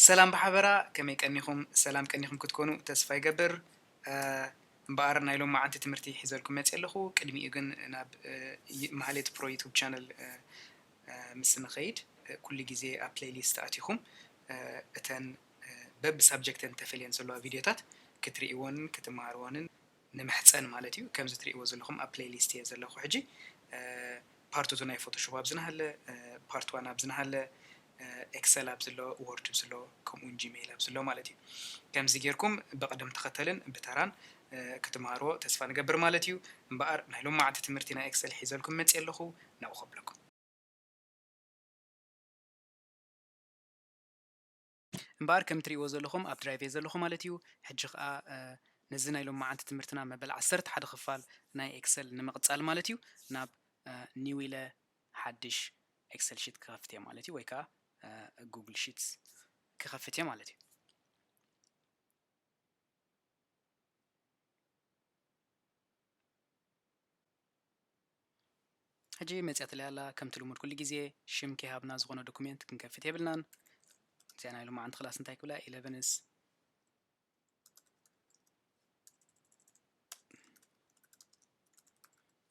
ሰላም ብሓበራ ከመይ ቀኒኹም ሰላም ቀኒኹም ክትኮኑ ተስፋ ይገብር እምበኣር ናይ ሎማዓንቲ ትምህርቲ ሒዘልኩም መፅየ ኣለኹ ቅድሚኡ ግን ናብ ማህሌት ፕሮ ዩቱብ ቻነል ምስ ንኸይድ ኩሉ ግዜ ኣብ ፕሌይሊስት ኣቲኹም እተን በብ ሳብጀክተን ተፈልየን ዘለዋ ቪድዮታት ክትርእይዎንን ክትመሃርዎንን ንምሕጸን ማለት እዩ ከምዚ ትሪእዎ ዘለኹም ኣብ ፕለይ ሊስት እየ ዘለኹ ሕጂ ፓርት ቱ ናይ ፎቶሾፕ ኣብዚ ናሃለ ፓርት ዋን ኣብዚ ናሃለ ኤክሰል ኣብዚ ኣሎ ዎርድ ኣብዚ ኣሎ ከምኡ ውን ጂመይል ኣብዚ ኣሎ ማለት እዩ ከምዚ ጌርኩም ብቅደም ተኸተልን ብተራን ክትማሃርዎ ተስፋ ንገብር ማለት እዩ እምበኣር ናይ ሎማዓንቲ ትምህርቲ ናይ ኤክሰል ሒዘልኩም መጽየ ኣለኹ ናብኡ ከብለኩም። እምበኣር ከም እትርእይዎ ዘለኹም ኣብ ድራይቭ እየ ዘለኹ ማለት እዩ። ሕጂ ከኣ ነዚ ናይ ሎማዓንቲ ትምህርትና መበል ዓሰርተ ሓደ ክፋል ናይ ኤክሰል ንምቕጻል ማለት እዩ ናብ ኒው ኢለ ሓድሽ ኤክሰል ሺት ክኸፍት እየ ማለት እዩ ወይ ከኣ ጉግል ሺትስ ክኸፍት እየ ማለት እዩ። ሕጂ መጺኣትለይ ኣላ ከምቲ ልሙድ ኩሉ ግዜ ሽም ከይሃብና ዝኾነ ዶኩሜንት ክንከፍት የብልናን እዚኣ ናይ ሎማዓንቲ ክላስ እንታይ ክብላ ኢለቨንስ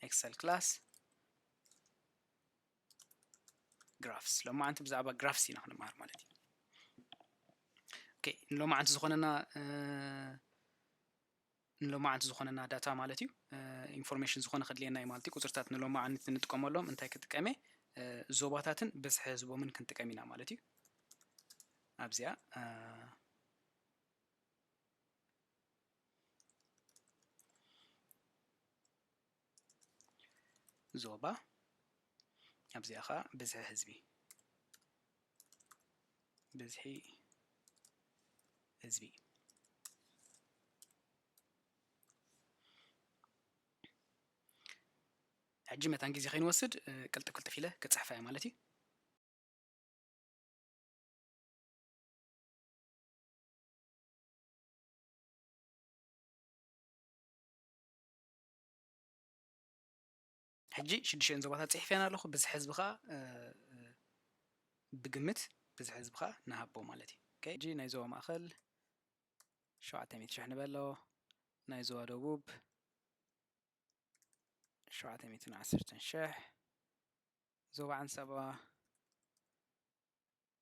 ኤክሰል ክላስ ግራፍስ ሎማዓንቲ ብዛዕባ ግራፍስ ኢና ክንመሃር ማለት እዩ ኦኬ ንሎማዓንቲ ዝኾነና ንሎማዓንቲ ዝኾነና ዳታ ማለት እዩ ኢንፎርሜሽን ዝኾነ ከድልየና እዩ ማለት እዩ ቁፅርታት ንሎማዓንቲ ንጥቀመሎም እንታይ ክጥቀም እየ ዞባታትን ብዝሒ ህዝቦምን ክንጥቀም ኢና ማለት እዩ ኣብዚኣ ዞባ ኣብዚኣ ኸኣ ብዝሒ ህዝቢ ብዝሒ ህዝቢ ሕጂ መታን ግዜ ከይንወስድ ቅልጥፍ ቅልጥፍ ኢለ ክፅሕፋ እየ ማለት እዩ ሕጂ ሽዱሽተን ዞባታት ጽሒፈን ኣለኹ ብዝሒ ህዝቢ ከዓ ብግምት ብዝሒ ህዝቢ ከዓ ንሃቦ ማለት እዩ ሕጂ ናይ ዞባ ማእኸል ሸውዓተ ሚእቲ ሽሕ ንበሎ ናይ ዞባ ደቡብ ሸውዓተ ሚእትን ዓሰርተን ሽሕ ዞባ ዓንሰባ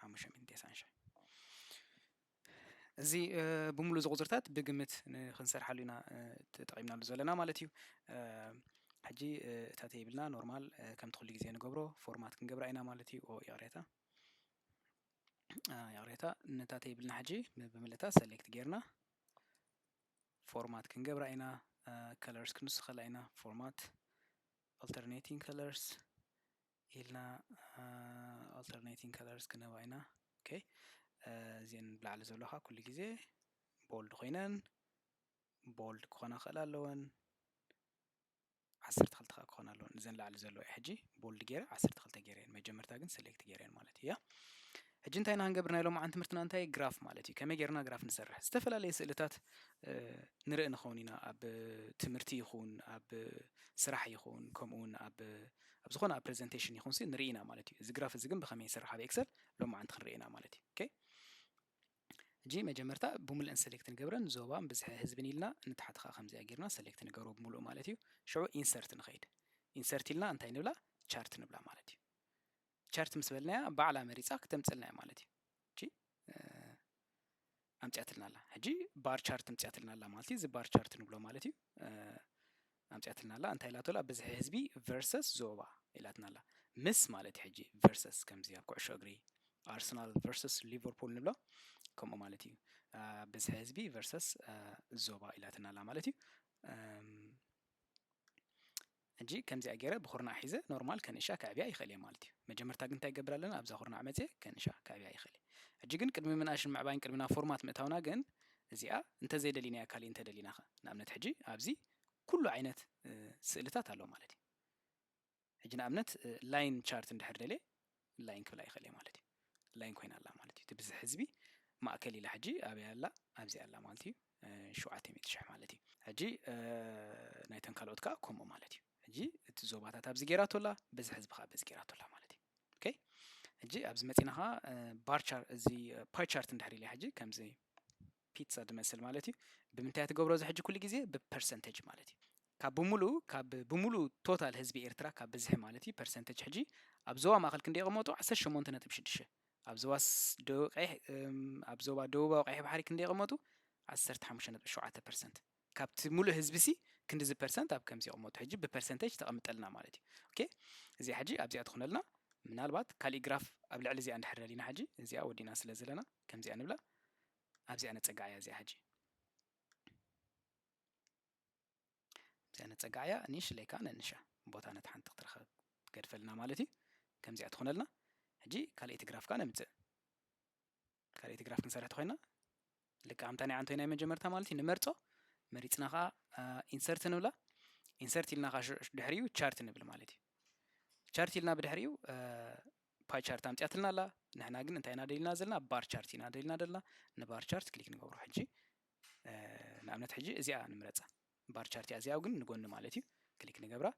ሓሙሽተ ሚእትን ቴስዓን ሻዕ እዚ ብምሉእ እዚ ቁፅርታት ብግምት ክንሰርሓሉ ኢና ተጠቒምናሉ ዘለና ማለት እዩ ሕጂ እታ ተይብልና ኖርማል ከምቲ ኩሉ ግዜ ንገብሮ ፎርማት ክንገብራ ኢና ማለት እዩ ይቕሬታ ይቕሬታ ነታ ተይብልና ሕጂ ብምልእታ ሰሌክት ጌርና ፎርማት ክንገብራ ኢና ከለርስ ክንውስኸላ ኢና ፎርማት ኣልተርኔቲንግ ከለርስ ኢልና ኣልተርኔቲንግ ከለርስ ክንህባ ኢና ኦኬ እዚን ብላዕሊ ዘሎካ ኩሉ ግዜ ቦልድ ኮይነን ቦልድ ክኾና ክእል ኣለወን ዓሰርተ ክልተ ከዓ ክኾን ኣለወን እዘን ላዕሊ ዘሎ እየ ሕጂ ቦልድ ገይረ ዓሰርተ ክልተ ገይረ እየን መጀመርታ ግን ሰሌክት ገይረ እየን ማለት እያ ሕጂ እንታይ ኢና ክንገብር ናይ ሎማዓን ትምህርትና እንታይ ግራፍ ማለት እዩ ከመይ ጌርና ግራፍ ንሰርሕ ዝተፈላለየ ስእልታት ንርኢ ንኸውን ኢና ኣብ ትምህርቲ ይኹን ኣብ ስራሕ ይኹን ከምኡውን ኣብ ኣብ ዝኾነ ኣብ ፕሬዘንቴሽን ይኹን ሲ ንርኢ ኢና ማለት እዩ እዚ ግራፍ እዚ ግን ብኸመይ ይስራሕ ኣብ ኤክሰል ሎማዓንቲ ክንርኢ ኢና ማለት እዩ ኦኬ እጂ መጀመርታ ብምልእን ሰሌክት ንገብረን ዞባን ብዝሒ ህዝብን ኢልና ንታሕቲ ከዓ ከምዚኣ ጌርና ሰሌክት ንገብሮ ብምሉእ ማለት እዩ ሽዑ ኢንሰርት ንኸይድ ኢንሰርት ኢልና እንታይ ንብላ ቻርት ንብላ ማለት እዩ ቻርት ምስ በልናያ ባዕላ መሪፃ ክተምፅልና እያ ማለት እዩ እጂ ኣምፅኣትልና ኣላ ሕጂ ባር ቻርት ኣምፅኣትልና ኣላ ማለት እዩ እዚ ባር ቻርት ንብሎ ማለት እዩ ኣምፅኣትልና ኣላ እንታይ ኢላቶ ኣላ ብዝሒ ህዝቢ ቨርሰስ ዞባ ኢላትና ኣላ ምስ ማለት እዩ ሕጂ ቨርሰስ ከምዚ ኣብ ኩዕሾ እግሪ ኣርሰናል ቨርሰስ ሊቨርፑል ንብሎ ከምኡ ማለት እዩ ብዝሒ ህዝቢ ቨርሰስ ዞባ ኢላትና ኣላ ማለት እዩ ሕጂ ከምዚኣ ጌረ ብኩርናዕ ሒዘ ኖርማል ከንእሻ ከዕብያ ይኽእል እየ ማለት እዩ። መጀመርታ ግን እንታይ ይገብር ኣለና ኣብዛ ኩርናዕ መጺኤ ከንእሻ ከዕብያ ይኽእል እየ። ሕጂ ግን ቅድሚ ምንኣሽን ምዕባይን ቅድሚ ናብ ፎርማት ምእታውና ግን እዚኣ እንተዘይደሊናያ ካሊእ እንተደሊናኸ? ንኣብነት ሕጂ ኣብዚ ኩሉ ዓይነት ስእልታት ኣሎ ማለት እዩ። ሕጂ ንኣብነት ላይን ቻርት እንድሕር ደልየ ላይን ክብላ ይኽእል እየ ማለት እዩ ላይን ኮይና ኣላ ማለት እዩ ትብዝሕ ህዝቢ ማእከል ኢላ ሕጂ ኣበይ ኣላ ኣብዚ ኣላ ማለት እዩ ሸውዓተ ሚእቲ ሽሕ ማለት እዩ ሕጂ ናይተን ካልኦት ከዓ ከምኡ ማለት እዩ ሕጂ እቲ ዞባታት ኣብዚ ጌራቶ ኣላ በዚ ሕዝቢ ከዓ በዚ ጌራቶ ኣላ ማለት እዩ ኦኬ ሕጂ ኣብዚ መፂና ከዓ ባርቻር እዚ ፓይ ቻርት እንድሕር ኢለ ሕጂ ከምዚ ፒትሳ ድመስል ማለት እዩ ብምንታይ እያ ትገብሮ እዚ ሕጂ ኩሉ ግዜ ብፐርሰንተጅ ማለት እዩ ካብ ብምሉኡ ካብ ብምሉኡ ቶታል ህዝቢ ኤርትራ ካብ ብዝሒ ማለት እዩ ፐርሰንተጅ ሕጂ ኣብ ዞባ ማእኸል ክንደይ ይቕመጡ ዓሰርተ ሸሞንተ ነጥቢ ሽዱሽተ ኣብ ዞባ ደቡብ ቀይሕ ኣብ ዞባ ደቡባዊ ቀይሕ ባሕሪ ክንደ ይቕመጡ ዓሰርተ ሓሙሽተ ነጥቢ ሸውዓተ ፐርሰንት ካብቲ ሙሉእ ህዝቢ ሲ ክንዲዚ ፐርሰንት ኣብ ከምዚ ይቕመጡ ሕጂ ብፐርሰንተጅ ተቐምጠልና ማለት እዩ ኦኬ እዚኣ ሕጂ ኣብዚኣ ትኾነልና ምናልባት ካሊእ ግራፍ ኣብ ልዕሊ እዚኣ እንድሕር ደሊና ሕጂ እዚኣ ወዲና ስለ ዘለና ከምዚኣ ንብላ ኣብዚኣ ነጸግዓያ እዚኣ ሕጂ እዚኣ ነጸግዓያ ንሽለይ ከዓ ነንሻ ቦታ ነቲ ሓንቲ ክትረኸብ ገድፈልና ማለት እዩ ከምዚኣ ትኾነልና ሕጂ ካልኣይቲ ግራፍ ከዓ ነምፅእ ካልኣይቲ ግራፍ ክንሰርሕ ተኮይና ልክዕ ኣምታ ናይ ዓንቶይ ናይ መጀመርታ ማለት እዩ ንመርፆ መሪፅና ከዓ ኢንሰርት ንብላ ኢንሰርት ኢልና ከዓ ድሕሪኡ ቻርት ንብል ማለት እዩ ቻርት ኢልና ብድሕሪኡ ፓይ ቻርት ኣምጽያትልና ኣላ ንሕና ግን እንታይ ኢና ደሊና ዘለና ባር ቻርት ኢና ደሊና ዘለና ንባር ቻርት ክሊክ ንገብሮ ሕጂ ንኣብነት ሕጂ እዚኣ ንምረጻ ባር ቻርት እያ እዚኣ ግን ንጎኒ ማለት እዩ ክሊክ ንገብራ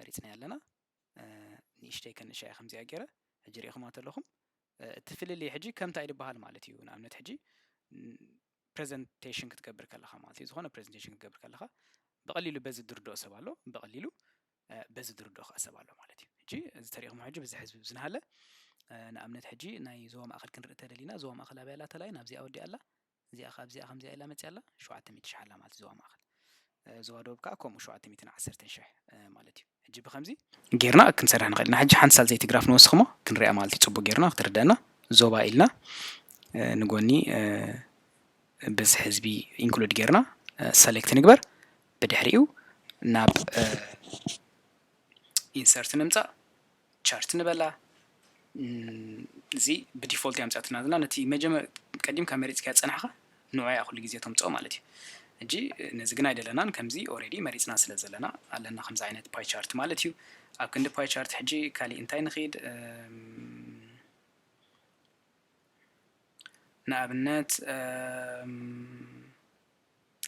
መሪጽናያ ኣለና ንእሽተይ ከንሻ እያ ከምዚኣ ገይረ ሕጂ ሪኢኹማ ተለኹም እቲ ፍልልይ ሕጂ ከምታ ይድበሃል ማለት እዩ ንኣብነት ሕጂ ፕሬዘንቴሽን ክትገብር ከለኻ ማለት እዩ ዝኾነ ፕሬዘንቴሽን ክትገብር ከለኻ ብቐሊሉ በዚ ድርድኦ ሰብ ኣሎ ብቐሊሉ በዚ ዝርድኦ ከኣ ሰብ ኣሎ ማለት እዩ ሕጂ እዚ ተሪእኹሞ ሕጂ ብዚ ሕዝቢ ዝነሃለ ንኣብነት ሕጂ ናይ ዞባ ማእኸል ክንርኢ ተደሊና ዞባ ማእኸል ኣበይ ኣላ ተላይ ናብዚኣ ወዲኣ ኣላ እዚኣ ካብ እዚኣ ከምዚኣ ኢላ መፅያ ኣላ ሸውዓተ ሚእቲ ሽሕ ኣላ ማለት ዞባ ማእኸል ዞባ ደቡብ ከዓ ከምኡ ሸውዓተ ሚእትን ዓሰርተን ሽሕ ማለት እዩ ሕጂ ብከምዚ ጌርና ክንሰርሕ ንኽእል ኢና ሕጂ ሓንቲ ሳል ዘይቲ ግራፍ ንወስኽሞ ክንሪኣ ማለት እዩ ፅቡቅ ጌርና ክትርደአና ዞባ ኢልና ንጎኒ ብዝሒ ህዝቢ ኢንክሉድ ጌርና ሰሌክት ንግበር ብድሕሪኡ ናብ ኢንሰርት ንምፃእ ቻርት ንበላ እዚ ብዲፎልት እያ ምፅኣትና ዘለና ነቲ መጀመ ቀዲምካ መሪፅካ ዝፀናሕካ ንዑ እያ ኩሉ ግዜ ተምፅኦ ማለት እዩ እጂ ነዚ ግን ኣይደለናን ከምዚ ኦሬዲ መሪፅና ስለ ዘለና ኣለና ከምዚ ዓይነት ፓይ ቻርት ማለት እዩ ኣብ ክንዲ ፓይ ቻርት ሕጂ ካሊእ እንታይ ንኽድ ንኣብነት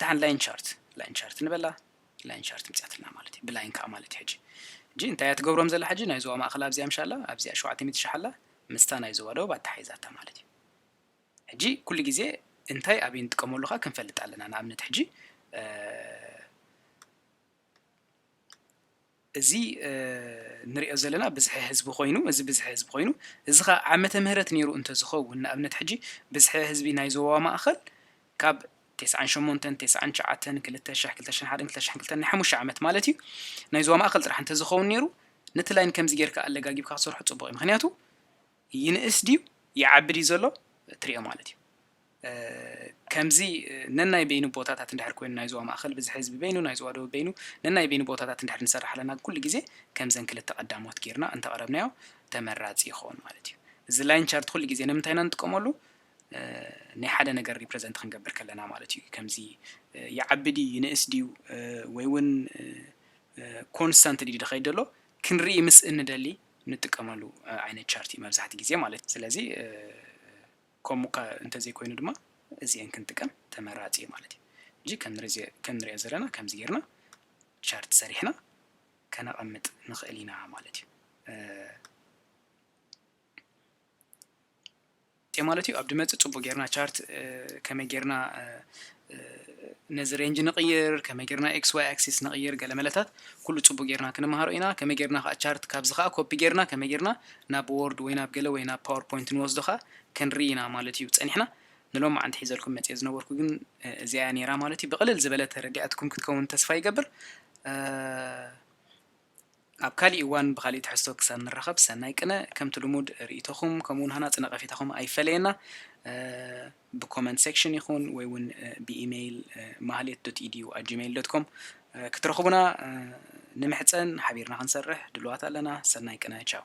ደሓን ላይን ቻርት ላይን ቻርት ንበላ ላይን ቻርት ምፅያትና ማለት እዩ ብላይን ከዓ ማለት እዩ ሕጂ ሕጂ እንታይ እያ ትገብሮም ዘላ ሕጂ ናይ ዞባ ማእኸል ኣብዚኣ ምሻላ ኣብዚኣ ሸውዓተ ሚእቲ ሽሕ ኣላ ምስታ ናይ ዞባ ደቡብ ኣተሓሒዛታ ማለት እዩ ሕጂ ኩሉ ግዜ እንታይ ኣብይ ንጥቀመሉ ከዓ ክንፈልጥ ኣለና ንኣብነት ሕጂ እዚ ንሪኦ ዘለና ብዝሒ ህዝቢ ኮይኑ እዚ ብዝሒ ህዝቢ ኮይኑ እዚ ከኣ ዓመተ ምህረት ነይሩ እንተዝኸውን ንኣብነት ሕጂ ብዝሒ ህዝቢ ናይ ዞባ ማእኸል ካብ ቴስዓን ሸሞንተን ቴስዓን ትሽዓተን ክልተ ሽሕ ክልተ ሽሕን ሓደን ክልተ ሽሕን ክልተን ናይ ሓሙሽተ ዓመት ማለት እዩ ናይ ዞባ ማእኸል ጥራሕ እንተዝኸውን ነይሩ ነቲ ላይን ከምዚ ጌርካ ኣለጋጊብካ ክትሰርሖ ጽቡቕ እዩ ምክንያቱ ይንእስ ድዩ ይዓቢ ድዩ ዘሎ እትሪኦ ማለት እዩ። ከምዚ ነናይ በይኑ ቦታታት እንድሕር ኮይኑ ናይ ዞባ ማእኸል ብዝሒ ህዝቢ በይኑ ናይ ዞባ ደቡብ በይኑ ነናይ በይኑ ቦታታት እንድሕር ንሰርሕ ኣለና ኩሉ ግዜ ከምዘን ክልተ ቀዳሞት ጌርና እንተቕረብናዮ ተመራፂ ይኸውን ማለት እዩ። እዚ ላይን ቻርት ኩሉ ግዜ ንምንታይ ኢና ንጥቀመሉ ናይ ሓደ ነገር ሪፕረዘንት ክንገብር ከለና ማለት እዩ። ከምዚ ይዓቢ ድዩ ይንእስ ድዩ ወይ እውን ኮንስታንት ድዩ ድኸይድ ዘሎ ክንርኢ ምስ እንደሊ ንጥቀመሉ ዓይነት ቻርት እዩ መብዛሕቲ ግዜ ማለት እዩ ስለዚ ከምኡ እንተዘይኮይኑ ድማ እዚኤን ክንጥቀም ተመራፂ እዩ ማለት እዩ እንጂ ከም ንሪኦ ዘለና ከምዚ ጌርና ቻርት ሰሪሕና ከነቐምጥ ንኽእል ኢና ማለት እዩ እንታይ ማለት እዩ ኣብ ድመጽ ጽቡቅ ጌርና ቻርት ከመይ ጌርና ነዚ ሬንጅ ንቕይር ከመይ ጌርና ኤክስ ዋይ ኣክሲስ ንቕይር ገለ መለታት ኩሉ ጽቡቅ ጌርና ክንመሃሮ ኢና ከመይ ጌርና ከዓ ቻርት ካብዚ ከዓ ኮፒ ጌርና ከመይ ጌርና ናብ ወርድ ወይ ናብ ገለ ወይ ናብ ፓወርፖይንት ንወስዶ ከዓ ክንርኢ ኢና ማለት እዩ ጸኒሕና ንሎም መዓንቲ ሒዘልኩም መጽየ ዝነበርኩ ግን እዚኣ ነይራ ማለት እዩ ብቕልል ዝበለ ተረዲኣትኩም ክትከውን ተስፋ ይገብር ኣብ ካሊእ እዋን ብካሊእ ትሕዝቶ ክሳብ ንራኸብ ሰናይ ቅነ ከምቲ ልሙድ ሪኢቶኹም ከምኡ ውን ሃናፂ ነቐፌታኹም ኣይፈለየና ብኮመንት ሴክሽን ይኹን ወይ ውን ብኢሜይል ማህሌት ዶት ኢዲዩ ኣት ጂሜይል ዶት ኮም ክትረኽቡና ንምሕፀን ሓቢርና ክንሰርሕ ድልዋት ኣለና ሰናይ ቅነ ቻው